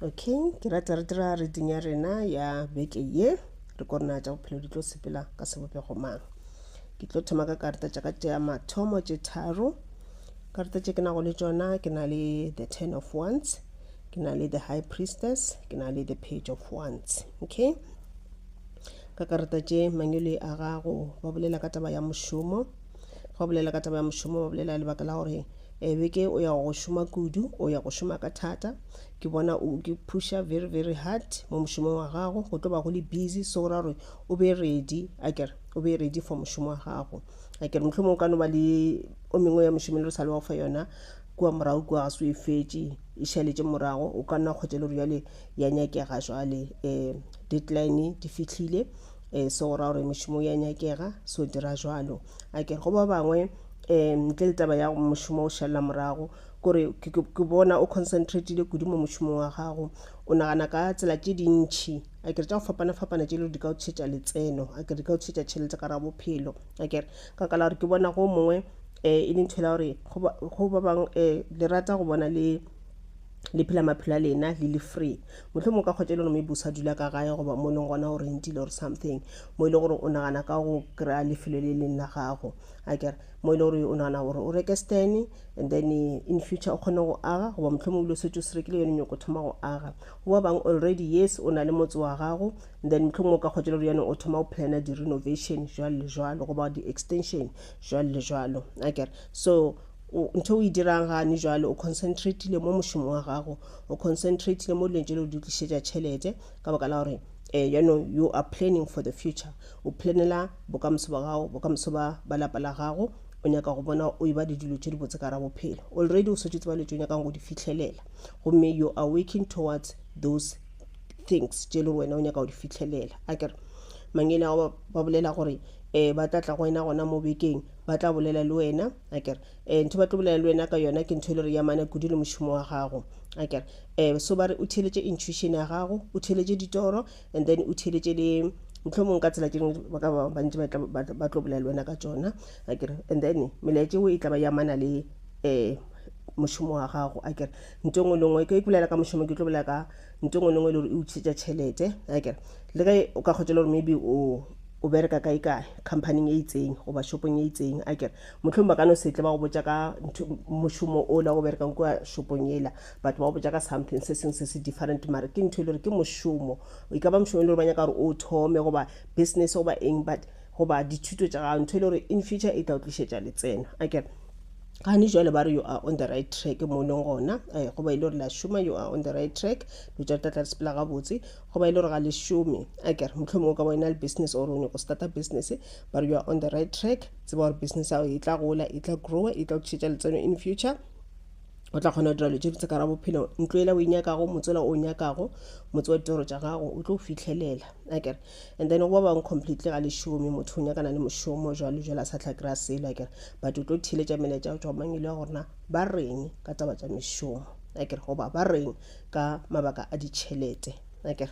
okay ke rata re dira reading ya rena ya beke ye re ko rena tša bophelo di tlo sepela ka sebopego mang ke tlo thoma ka karata tša ka tša mathomo tše tharo karata tše ke nago le tšona ke na le the ten of ones ke na le the high priestess ke na le the page of ones okay ka karata tše mangwele a gago ba bolela ka taba ya mošomo fa bolela ka taba ya mošomo ba bolela lebaka la gore Beke o ya go šoma kudu, o ya go šoma ka thata. Ke bona o ke pusha very very hard mo mošomong wa gago, go tlo ba go le busy so ra gore o be ready a kere o be ready for mošomo wa gago. A kere mohlomong o ka no ba le o mengwe ya mošomo e le re sa le wa go fa yona kua morago kua ga se o e fetše e šaletše morago o ka nna kgotsa e le gore jale ya nyakega jale um deadline di fitlhile um so go ra gore mošomo ya nyakega so dira jalo a kere go ba bangwe um ntle le taba ya mošomo o šalela morago kore ke bona o concentratile kudu mo mošomong wa gago o nagana ka tsela tše dintšhi a kere tša go fapana-fapana tše le di ka o tšhetša letseno a kere di ka o tšhetša tšhelete ka ra bophelo a kere ka kala gore ke bona go mongwe um e le ntho e la gore go ba bangwe um le rata go bona le le phela maphelo a lena le le free motlho mo ka kgotsa e le gore maybe o sa dula ka gae goba mo e leng gona o rentile or something mo e le gore o nagana ka go kry-a lefelo le leng la gago a kere mo e le gore o nagana gore o reke stene and then in future o kgone go aga goba mohlomong ile o setse o se rekile yone nyoko thoma go aga goba bang already yes o na le motse wa gago then mohlomong o ka kgotsa le gore yone o thoma go plana di-renovation jwalo le jwalo goba di-extension jwalo le jwalo a kere so ntho o e dirang gane jwale o concentratile mo mošomo wa gago o concentratile mo dileng tse le di tlišetša tšhelete ka baka la gore Eh, you know, you are planning for the future. O planela bokamoso ba gago, bokamoso ba ba lapa la gago. O nyaka go bona o eba le dilo tše di botse ka ra bophelo. Already o swetše tseba le tšo nyakang go di fihlelela. Gomme you are working towards those things tše le gore wena o nyaka go di fihlelela. A kere mangele a gago ba bolela gore eh ba tla tla go wena gona mo bekeng, ba tla bolela le wena. a kere um ntho ba tlo bolela le wena ka yona ke ntho e le gore ya mana kudu le mošomo wa gago a kere um so ba re o theeletše intuition ya gago o theeletše ditoro and then o theeletše le motlho mongwe ka tsela tše dingwe ba ka ba bantši ba tla- ba tla- ba tlo bolela le wena ka tšona a kere and then melaetše o e tla ba ya mana le um mošomo wa gago a kere nto ngwe le ngwe ke ke bolela ka mošomo ke tlo bolela ka nto ngwe le ngwe e le gore e utshetša tšhelete a kere le ge o ka kgotsa le gore maybe o o bereka kae-kae khamphaning e itseng goba shopong e itseng a kere motlhong ba ka no setle ba go botsa ka mošomo o la go berekang kua shopong ela batho ba go botsa ka something se sengwe se se different mare ke ntho e le gore ke mošomo e ka ba mošomo e le gore ba nyaka gore o thome goba business goba eng but goba dithuto tša gago ntho e le gore in future e tla o tlišetša letseno a kere gane jale ba re you are on the right track mo e leng gona um goba e le gore la šoma you are on the right track lo tša tlatla le sepela gabotse go ba e le gore ga le šome a kere mohlomong o ka bona le business or o nyako starta business but you are on the right track tseba gore business ao e tla gola e tla growa e tla tšhetša letseno in future o tla kgona go dira dilo tše ditse ka ra bophelo ntlo ela o e nyakago motswela o nyakago motse wa ditoro tša gago o tlo o fitlhelela a kere and then go ba bangwe completely ga le šome motho o nyakana le mošomo jalo jalo a sa tla kry-a selo a kere but o tlo theletša meletša go tswa mangelo ya gorena ba reng ka taba tša mešomo a kere goba ba reng ka mabaka a ditšhelete akere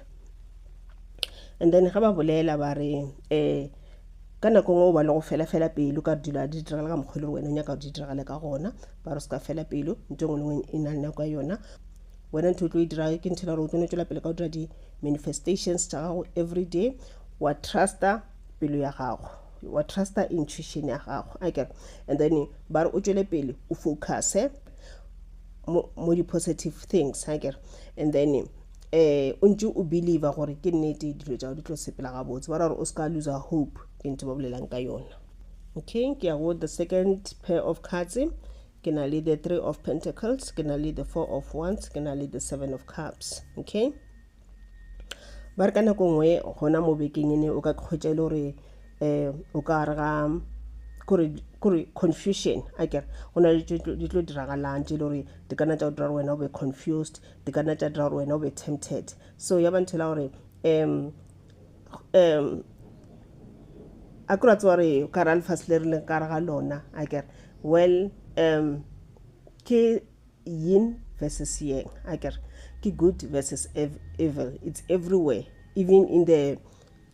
and then ga ba bolela ba re um ka nako ngwe o ba le go fela fela pelo ka dilo a di diragale ka mokgwa e le wena o nyaka go di diragale ka gona ba re se ka fela pelo nto e ngwe le ngwe e na le nako ya yona wena ntho o tlo e dira ke ntho e le gore o tlo no tswela pele ka go dira di-manifestations tša gago every day wa trusta pelo ya gago wa trusta intuition ya gago a kere and then ba re o tswele pele o focuse mo, mo di-positive things ha kere and then um o ntse o believer gore ke nnete dilo tšao di tlo sepela gabotse ba ra gore o se ka loser hope ke ntho ba bolelang ka yona okay ke ya go the second pair of cards ke na le the three of pentacles ke na le the four of wands ke na le the seven of cups okay ba re ka nako nngwe gona mo bekeng ene o ka kgwetša e le gore um o ka re ga kore confusion a kere go na le di tlo diragalang tse e le gore di kana tša go dira gore wena o be confused di kana tša dira gore wena o be tempted so ya ba nthela gore um um a kore a tsewa re ka ra lefase le re leng ka re ga lona a kere well um ke yin versus yang a kere ke good versus evil it's everywhere even in the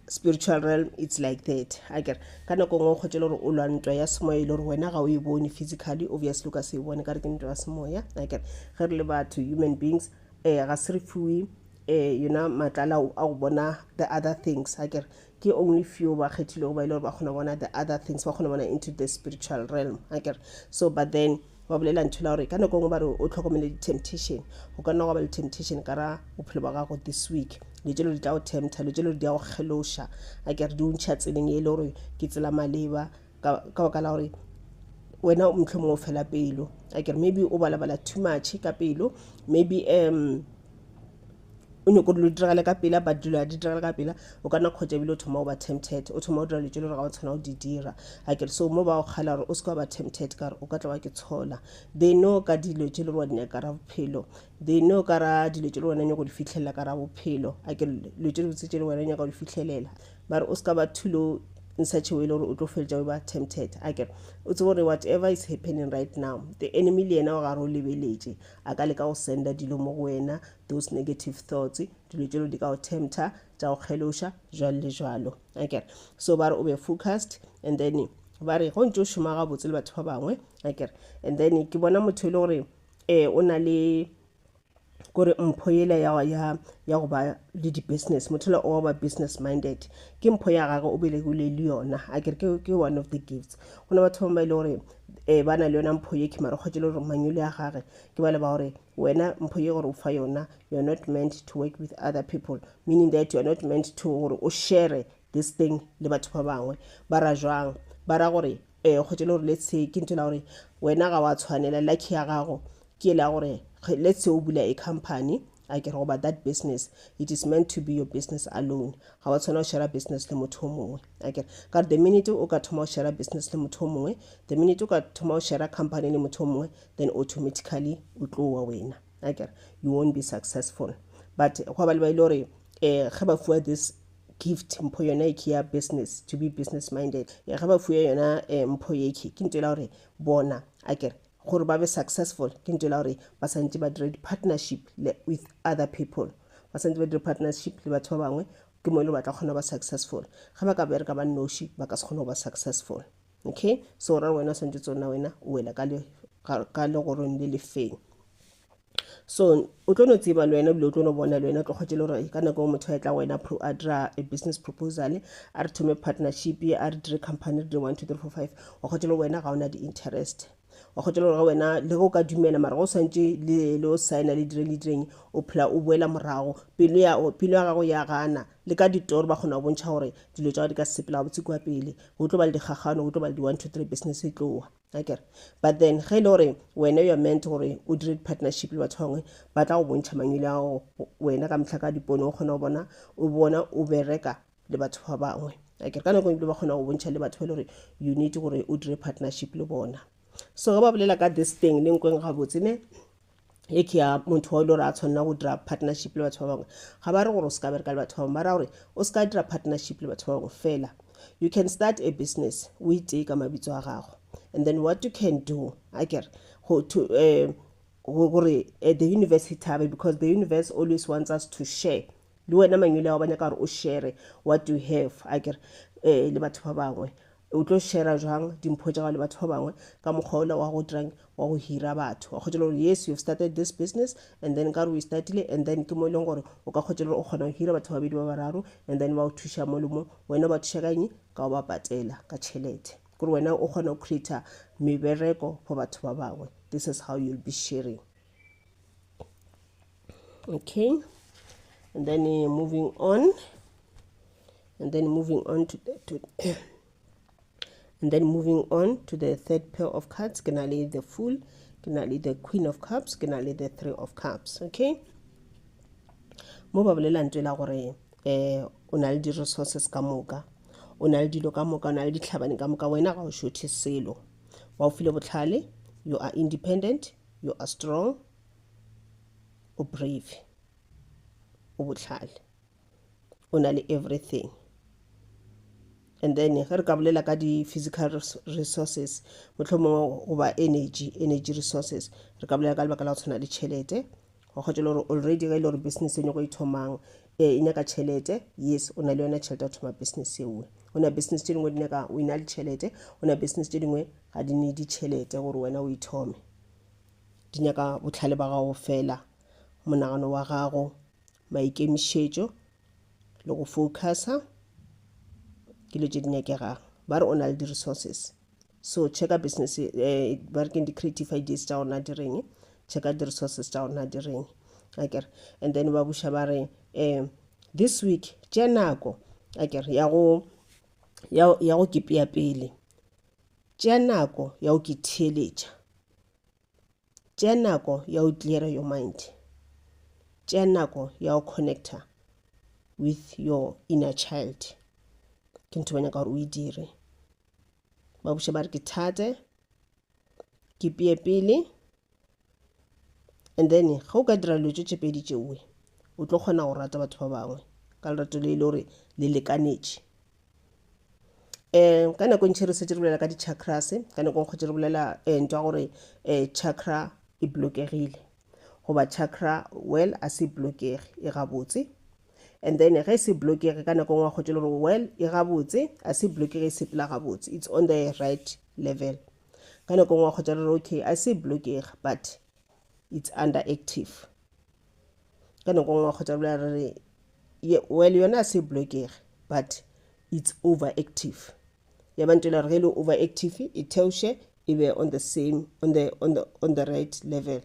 spiritual realm it's like that a kere ka nako ngwe o kgotse le gore o lwa ntwa ya semoya e le gore wena ga o e bone physically obviously o ka se e bone ka re ke ntwa ya semoya a kere ge re le batho human beings um ga se re fiwe um yona matlala a go bona the other things a kere Ke only few ba kgethilwego ba e le gore ba kgona bona the other things, ba kgona bona into the spiritual realm. Akere? So but then ba bolela ntho la gore ka nako e nngwe ba re o tlhokomele di-temptation. Go ka nna gwa ba le temptation ka ra bophelo ba gago this week. Dilo tse lo di tla go tempta, dilo tse lo di ya go kgeloša. Akere? Di o ntšha tseleng e le gore ke tsela maleba. ka ka baka la gore wena motlho mongwe o fela pelo a kere maybe o balabala too much ka pelo maybe um o nyoko dilo di diragale ka pela but dilo a di diragale ka pela o ka nna kgotsa ebile o thoma o ba tempted o thoma o dira dilo tse le gore ga o tshwana o di dira a kere so mo ba go kgala gore o se ka ba tempted ka gore o ka tla wa ke tshola they know ka dilo tse le gore wa di nyakara bophelo they know ka ra dilo tše le wena nyako di fitlhelela ka ra bophelo a ke dilo tše dibotse tše le wena nyaka di fitlhelela mare o se ka ba thulo in such a way le gore o tlo feletša o ba tempted a kere o tsebo gore whatever is happening right now the enemy le yena wa gare o lebeletše a ka le ka go senda dilo mo go wena those negative thoughts dilo tšelo di ka go tempter tša go kgeloša jalo le jalo a kere so ba re o be focused and then ba re go ntse o šoma gabotse le batho ba bangwe a kere and then ke bona motho e le gore um o na le kore mpho yela ya ya go ba le di-business motho yola o a ba business minded ke mpho ya gagwe o belegile le yona a kere ke ke one of the gifts go na batho bangwe ba e le gore um ba na le yona mpho ye ke mara kgwetše le gore manyole a gage ke bale ba gore wena mpho ye gore o fa yona you are not meant to work with other people meaning that you are not meant to gore o share this thing le batho ba bangwe ba ra jwang ba ra gore eh kgotsa e le gore let's say ke ntho la gore wena ga wa tshwanela lucky ya gago ke la gore let's say o bula a company a ke re goba that business it is meant to be your business alone ga wa tshwana go share business le motho o mongwe a kere ka the minute o ka thoma go share business le motho o mongwe the minute o ka thoma go share company le motho o mongwe then automatically o tlowa wena a kere you won't be successful but go ba le ba ile gore um ge ba fiwa this gift mpho yona e ke ya business to be business minded e ga ba fuya yona eh, mpho ye ke ke nto la gore bona a kere gore ba be successful ke nto la gore ba santse ba dire di-partnership with other people ba santse ba dire partnership le batho ba bangwe ke mo e le ba tla kgona ba successful ga ba ka bereka ba noši ba ka se kgone go ba successful okay so ra wena o swantse tsona wena o wela ka legorong le lefeng so o tlo no tseba le wena ebile o tlo no bona le wena tlo kgwetše le gore ka nako e motho a etla go wena a dira a business proposal a re thome partnership a re dire company re dire one two three four five wa kgwetše le gore wena ga o na di-interest wa kgwetše le gore ga wena le go ka dumela mara go swantše le o signa le dire le direng o phela o boela morago pelo ya gago ya gana le ka ditoro ba kgona go bontšha gore dilo tsa gago di ka sepela botse kua pele go tlo ba le dikgagano go tlo ba le di-one two three business e tlowa Akere? But then ge e le gore wena you're meant gore o dire di-partnership le batho ba bangwe ba tla go bontšha mangwele a gago wena ka mehla ka dipone o kgona go bona o bona o bereka le batho ba bangwe akere ka nako ebile ba kgona go bontšha le batho ba e le gore you need gore o dire partnership le bona so ge ba bolela ka this thing le nkweng gabotse ne e ke ya motho wa e le gore a tshwanela go dira partnership le batho ba bangwe ga ba re gore o se ka bereka le batho ba bangwe ba ra gore o se ka dira partnership le batho ba bangwe fela you can start a business o itee ka mabitso a gago and then what you can do a kere go to um gore eh, the universe he thabe because the universe always wants us to share le wena mangwele ao ba nyaka gore o share what you have a kere um le batho ba bangwe O tlo shera jwang dimpho tša gago le batho ba bangwe ka mokgwa ola wa go dirang wa go hira batho wa kgwetša le gore yes you have started this business and then ka re o e startile and then ke mo e leng gore o ka kgwetša le gore o kgona go hira batho babedi ba bararo and then ba o thuša mo le mo wena o ba thuša ka eng ka o ba patela ka tšhelete kore wena o kgona go creata mebereko for batho ba bangwe this is how you'll be sharing okay and then uh, moving on and then moving on to, the, to and then moving on to the third pair of cards ke na le the fool ke na le the queen of cups ke na le the three of cups okay mo ba bolelang tswe la gore eh o na le di-resources ka moka o na le dilo ka moka o na le ditlhabane ka moka wena ga o shothe selo wa o file botlhale you are independent you are strong o brave o bohlale o na le everything and then ge re ka bolela ka di-physical resources motlho mongwe goba energy energy resources re ka bolela ka lebaka la go tshwana le tšhelete wa kgotsa le gore already ge e le gore business e nyako e thomang ee e nyaka tšhelete yes o na le yona tšhelete ya go thoma business ewe o na business tše dingwe di nyaka o ina le tšhelete o na business tše dingwe ga di ne ditšhelete gore wena o ithome Di nyaka bohlale ba gago fela, monagano wa gago, maikemišetšo le go focusa ke dilo tše di nyakegang. Ba re o na le di-resources. So checka business, eh, ba re keng di-creative ideas tša gona di reng, checka di-resources tša gona di reng. Akere, and then ba buša ba re, eh, this week tše nako akere ya go ya, ya go kepea pele tše nako ya go ke theeletša tšea nako ya go cleara your mind tšea nako ya go connecta with your inner child ke ntho ba nyaka gore o e dire ba buša ba re ke thate ke peye pele and then ga o ka dira dilo tše tšepedi tšeoe o tlo kgona go rata batho ba bangwe ka lerato le e le gore le lekanetše um ka nako e ntšhi re setse re bolela ka di-chakras ka nako e kgotse re bolela um ntwa gore um chakra e blokegile goba chakra well a se blokege e gabotse and then ge e se blokege ka nako ngwe kgotse le gore well e gabotse a se blokege e sepela gabotse it's on the right level ka nako ngwe kgotse re re okay a se blokege but it's under active ka nako ngwe kgotse re bolela re re Ye, well yona a se blokege but it's overactive ya ba ntela gore ge e le overactive e theoše e be on the same on the, on the, on the right level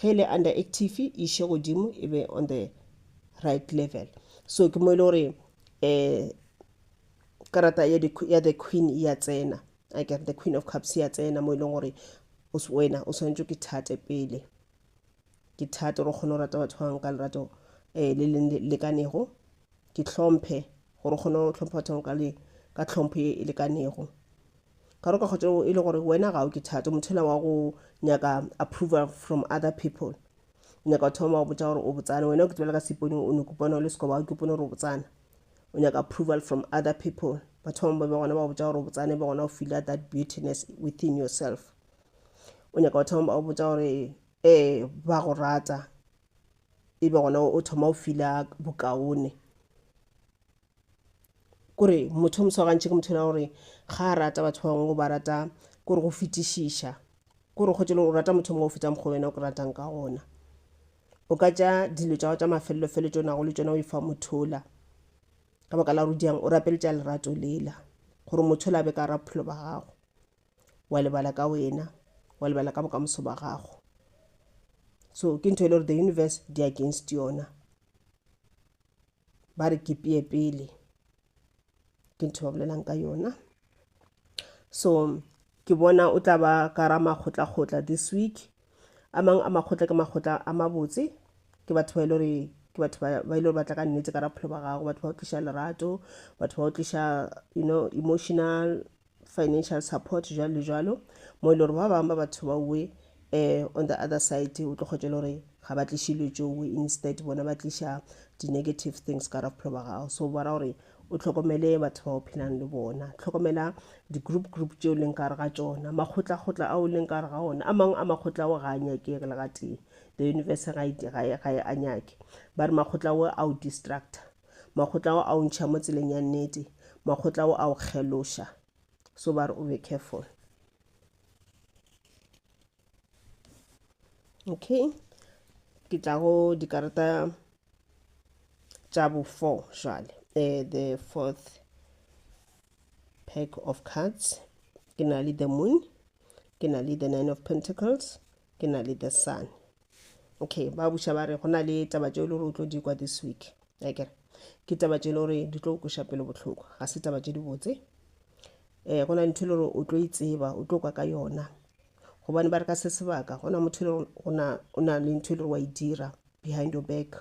ge e le underactive e iše godimo e be on the right level so ke mo e le gore um karata ya, the, ya the queen e ya tsena a kere the queen of cups e ya tsena mo e leng gore wena o swanetše ke thate pele ke thata gore o kgone go rata batho ba bangwe ka lerato um le le lekanego ke tlhomphe gore o kgone go tlhompha batho ba bangwe ka le ka tlhompho e e lekanego ka gore ka kgotsa e le gore wena ga o ke thata motho ela wa go nyaka approval from other people o nyaka batho ba bangwe ba go botsa gore o botsana wena o ke tsebela ka seponeng o ne kopana o le sekoba o kopone gore o botsana o nyaka approval from other people batho ba bangwe ba be gona ba go botsa gore o botsane ba gona o feela that beautiness within yourself o nyaka go thoma o botsa gore ee ba go rata e be gona o thoma o fila bokaone kore motho o moswagantšhe ke motho ela gore ga a rata batho ba bangwe o ba rata kore go fetišiša kore kgotse le gore o rata motho mongwe o feta mokgwa wena o ke ratang ka gona o ka tša dilo tša go tša mafelelo felo tšo nago le tšona o e fa mothola ka baka la gore o diang o rapeletša lerato lela gore motho o la be ka ra bophelo ba gago wa lebala ka wena wa lebala ka bokamoso ba gago so ke ntho e le gore the universe di against yona ba re ke peye pele ke ntho ba bolelang ka yona so ke bona o tla ba ka ra makgotlakgotla this week a mang a makgotla ke makgotla a mabotse ke batho ba e le gore ke batho ba ba e le gore ba tla ka nnete ka raphelo ba gago batho ba o tliša lerato batho ba o tliša you know emotional financial support jwalo le jwalo mo e le gore ba bangwe ba batho ba uwe um eh, on the other side o tlo kgwetša le gore ga ba tliše dilo tšeo uwe instead bona ba tliša di-negative things ka ra bophelo ba gago so bara gore o tlhokomele batho ba o phelang le bona tlhokomela di-group group tšeo leng ka gare ga tsona makgotlakgotla ao leng ka gare ga ona a mangwe a makgotla ao ga a nyakege le gatee the universe ga e, e, e, a nyake ba re makgotla ao a o distractor Makgotla ao a o ntšha mo tseleng ya nnete. Makgotla ao a o kgeloša. So ba re o be careful. Okay. Ke tla go dikarata tša bo four jale. Uh, the fourth pack of cards. Ke na le the moon. Ke na le the nine of pentacles. Ke na le the sun. okay ba buša ba re go na le taba tše e le gore o tlo di kwa this week akere ke taba tše e le gore di tlo kweša pelo bohloko ga se taba tše di botse um go na le ntho e le gore o tlo itseba e o tlo kwa ka yona gobane ba re ka se sebaka go na motho e le gore o na le ntho e le gore wa e dira behind your back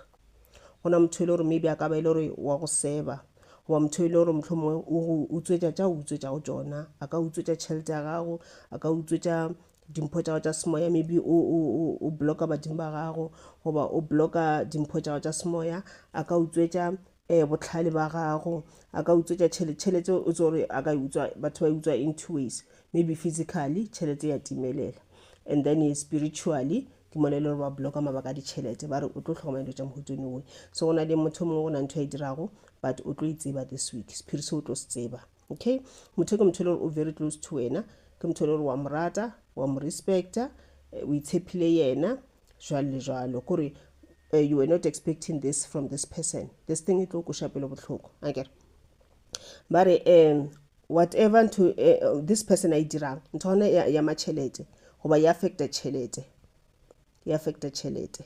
go na motho e le gore maybe a ka ba e le gore wa go seba goba motho e le gore motlho mongwe o tswetša tša o utswetša go tsona a ka utswetša tšhelete ya gago a ka utswetša dimpho tša gago tša semoya maybe o, o, o, o blocka badimo ba gago goba o blocka dimpho tša gago tša semoya a ka utswetša um botlhale ba gago a ka utswetša tšhelete tšhelete o tse gore a ka e utswa batho ba e utswa in two ways maybe physically tšhelete ya timelela and then e spiritually ke mona e le gore ba blocka mabaka a ditšhelete ba re o tlo tlhokomela dilo tša mohutsone oe so go na le motho mongwe go na ntho ya e dirago but o tlo e tseba this week sephiri se o tlo se tseba okay motho ke motho e le gore o very close to wena ke motho e le gore wa morata wa mo respecta eh, o itshepile yena jalo le jalo kore eh, you were not expecting this from this person this thing e tlo koša pelo bohloko a kere ba re um whatever ntho eh, this person a e dirang ntho gona ya, ya matšhelete goba ya affecta tšhelete ya affecta tšhelete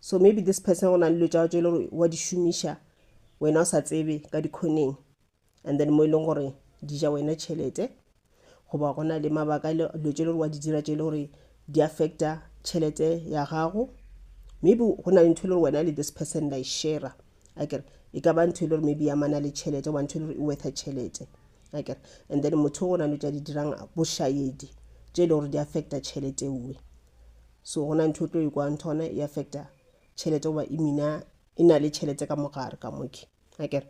so maybe this person go na le dilo tša tše e le gore wa di šomiša wena o sa tsebe ka dikhoneng and then mo e leng gore di ja wena tšhelete goba go na le mabaka e dilo tše e le gore wa di dira tše e le gore di affecta tšhelete ya gago maybe go na le ntho e le gore wena le this person la e shera akere e ka ba ntho e le gore maybe yamana le tšhelete goba ntho e le gore e wetha tšhelete akere and then motho o go na le tša di dirang bošayedi tše e le gore di affecta tšhelete ewe so gona ntho o tlo e kwang thona e affecta tšhelete goba imina e na le tšhelete ka mogare ka moke akere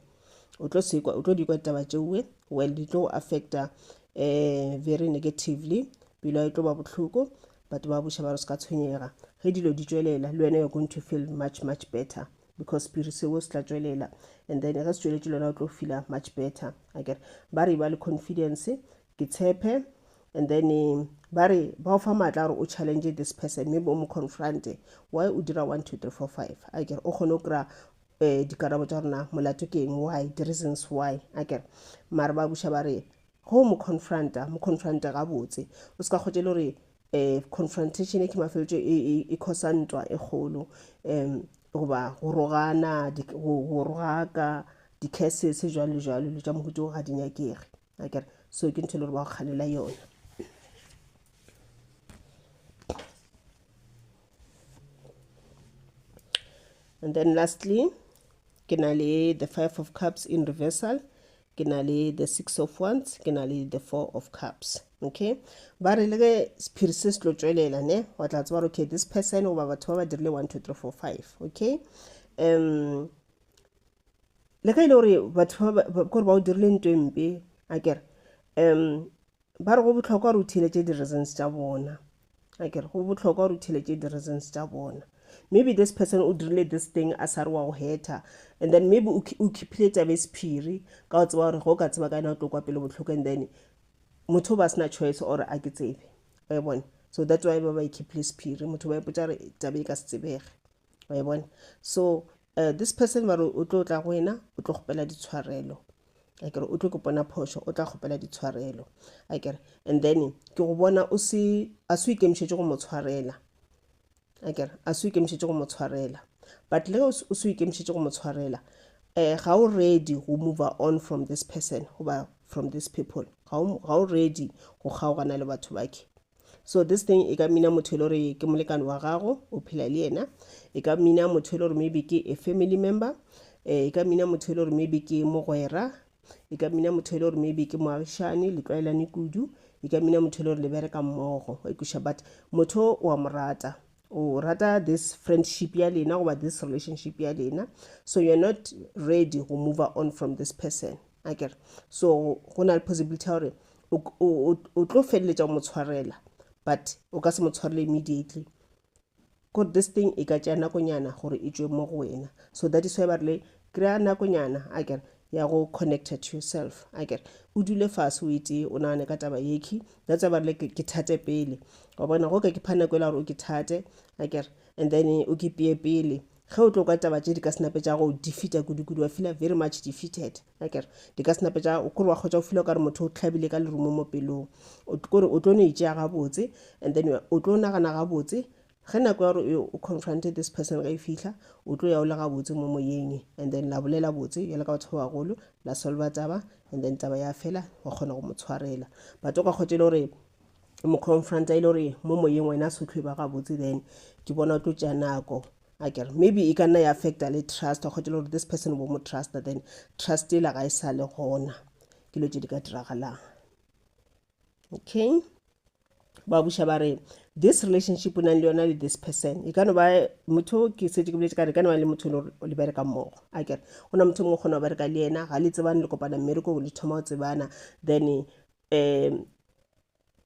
o tlo sekwa o tlo dikwa ditaba tšeoe well di tlo affecta um very negatively pelo e tlo ba bohloko batho ba buša ba re se ka tshwenyega ge dilo di tšwelela le wena you're going to feel much much better because spiri seo se tla tšwelela and then ge se tšweletše le wena o tlo feela much better akere ba re ba le confidence ke tshepe and then ba re ba o fa maatla gore o challenge this person maybe o mo confronte why o dira one two three four five a kere o kgone o kry-a um dikarabo tsa rona molato ke eng why the reasons why a kere mare ba buša ba re go mo confronta mo confronta gabotse o se ka kgotse le gore um confrontation e ke mafeletso e, e, e khosa ntwa e kgolo um goba go rogana go rogaka di-cases jalo le jalo dilo tša mohuto ga di nyakege akere so ke ntho e le gore ba go kganela yona and then lastly ke na le the five of cups in reversal ke na le the six of wands ke na le the four of cups okay ba re le ge sephiri se se tlo tswelela ne wa tla tseba gore okay this person goba batho ba ba dirile one two three four five okay um le ge e le gore batho ba kore ba o dirile nto e mpe a kere um ba re go bohlokwa gore o theletše di-reasons tša bona a kere go bohlokwa gore o theletše di-reasons tša bona maybe this person o dirile this thing a sa re wa go hetha and then maybe o keepile taba e sephiri ka o tseba gore go ka tseba ka yena o tlo kwa pele bohloko and then motho o ba sena choice or a ke tsebe wa e bona so that's why ba ba e keepile sephiri motho ba ipotsa gore taba e ka se tsebege wa e bona so uh, this person ba re o tlo tla go wena o tlo kgopela ditshwarelo a kere o tlo ke pona phošo o tla kgopela ditshwarelo a kere and then ke go bona o se a se o ikemišetše go mo tshwarela a kere a se o ikemišetše go mo tshwarela but le o se o ikemišetše go mo tshwarela um ga o ready go move on from this person goba from these people ga o ready go kgaogana le batho bakhe so this thing e ka mina motho e le gore ke molekane wa gago o phela le yena e ka mina motho e le gore maybe ke a family member eh, e ka mina motho e le gore maybe ke mogwera e ka mina motho e le gore maybe ke moagišane le tlwaelane kudu e ka mina motho e le gore le bereka mmogo wa ikuša but motho wa mo rata o rata this friendship ya lena goba this relationship ya lena so you're not ready go move on from this person akere so go na le possibility ya gore o tlo feleletša o mo tshwarela but o ka se mo tshwarele immediately kore this thing e ka tšea nakonyana gore e tšwe mo go wena so that is why ba rile kry-a nakonyana a kere ya go connecta to yourself a kere o dule fase o etee o nagane ka taba yekhi that's why ba rile ke thate pele wa bona go ka ke pha nako e la gore o ke thate a kere and then o ke peye pele Ge o tlo kwa taba tše di ka senape tša go defeater kudu-kudu, wa feela very much defeated. Akere, di ka senape tša, o kore wa kgotša o feela o ka re motho o hlabile ka lerumo mo pelong. O kore o tlo no itšea gabotse, and then o tlo nagana gabotse, ge nako ya gore o confronted this person ge e fihla, o tlo ya o le gabotse mo moyeng, and then la bolela botse bjalo ka batho ba bagolo, la solver taba, and then taba ya fela, wa kgona go mo tshwarela. But o ka kgotša e le gore mo confront a ile gore mo moyeng wena se tlho e ba gabotse then ke bona o tlo tšea nako a kere maybe e ka nna ya affecta le trust wa kgotela gore this person bo mo trusta then trust e la ga e sa le gona ke lo tse di ka diragalang okay ba buša ba re this relationship o nang le yona le this person e ka no ba motho ke setse ke boletse ka re ka no ba le motho o le bereka mmogo a kere go na motho mongwe kgona go bereka le yena ga le tsebane le kopana mmereko le thoma go tsebana then um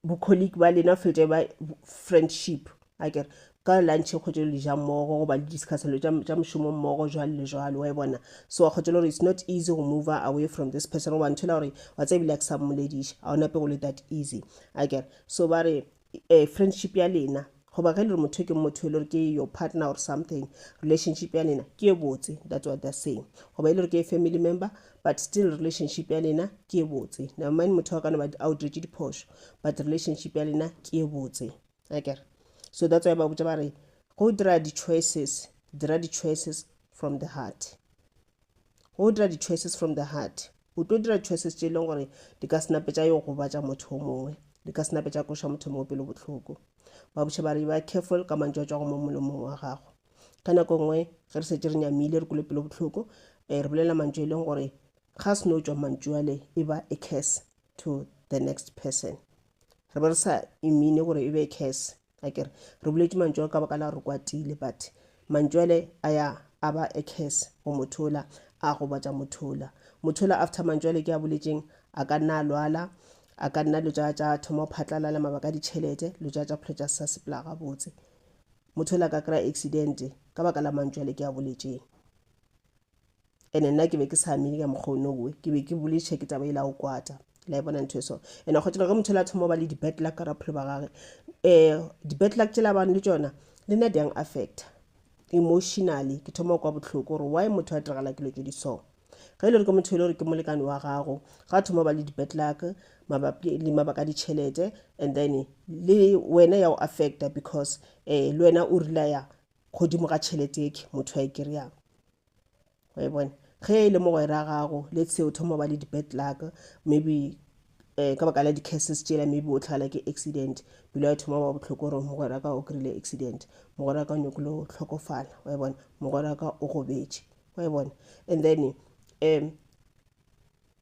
bo-colleague ba lena o fete ba friendship a kere ka lunch o kgotse le ja mmogo goba le discussa lo tša mošomo mmogo jwalo le jwalo wa e bona so wa kgotse le gore it's not easy go move away from this person goba ntho e la gore wa tse ebile a ke sa mmolediša a o nape go le that easy a kere so ba re eh, friendship ya lena goba ge le re motho ke motho e le gore ke your partner or something relationship ya lena ke e botse that's what they're saying goba e le gore ke family member but still relationship ya lena ke e botse never mind motho wa kana ba a o diretse diphošo but relationship ya lena ke e botse akere so that's why ba botsa ba re go dira di-choices dira di-choices from the heart Go dira di choices from the heart. O tlo dira choices tše e leng gore di ka senape tša yo gobatša motho o mongwe, di ka senape tša koša motho mongwe pelo bohloko. Ba buša ba re ba careful ka mantšu a tšwago mo molomong wa gago. Ka nako nngwe ge re setse re nyamile re kule pelo bohloko, eh, re bolela mantšu e leng gore ga se no tšwa mantšu ale e ba a curse to the next person. Re be re sa imine gore e be a curse. a kere re boletše mantšu ao ka baka la re kwatile but mantšu ale a ya a ba a curse go motho ola a gobatša motho ola motho ola after mantšu ale ke a boletšeng a ka nna a lwala a ka nna lo tša tša thoma go phatlalala mabaka a ditšhelete lo tša tša phelo tša sa sepela gabotse motho ola ka kry-a accident ka baka la mantšu ale ke a boletšeng ene nna ke be ke sa amile ka mokgwa o nowe ke be ke boletšhe ke taba e la go kwata la e bona ntho eso ene go tšela ge motho la thoma ba le di-bad luck ka raphelo ba gage um di-bad luck tšela bane le tšona le nna diang affecta emotionally ke thoma kwa bohloko gore why motho a diragala ke lo tse di so ge e le gore ke motho e le gore ke molekane wa gago ga thoma ba le di-bad luck mabapi le mabaka a ditšhelete and then le wena ya go affecta because um le wena o relaya godimo ga tšhelete eke motho a e kry-ang e bone ge e le mogwera gago le tsheo thoma ba le di-bad luck maybe um ka baka la di-cases tšela maybe o tlhagala ke accident pelo ya thoma ba bohloko gore mogwera ka o kry-ile accident mogwera ka o nyakile go tlhokofala wa e bona mogwera ka o gobetše wa e bona and then um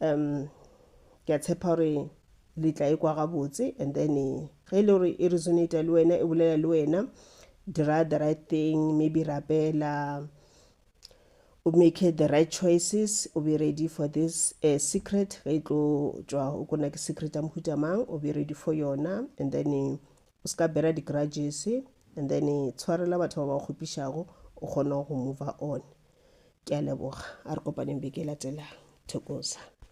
Um, ke a tshepa gore le tla e kwa gabotse and then e, ge e le gore e resonata le wena e bolela le wena dira the right thing maybe rapela o make the right choices o be ready for this uh, secret ge e tlo tšwa o kona ke secret ya mohuta mang o be ready for yona and then eh, o se ka bera di-grudges and then eh, tshwarela batho ba ba kgopišago o kgona go move on Ke a leboga. A re kopaneng beke e latelang. Thokoza.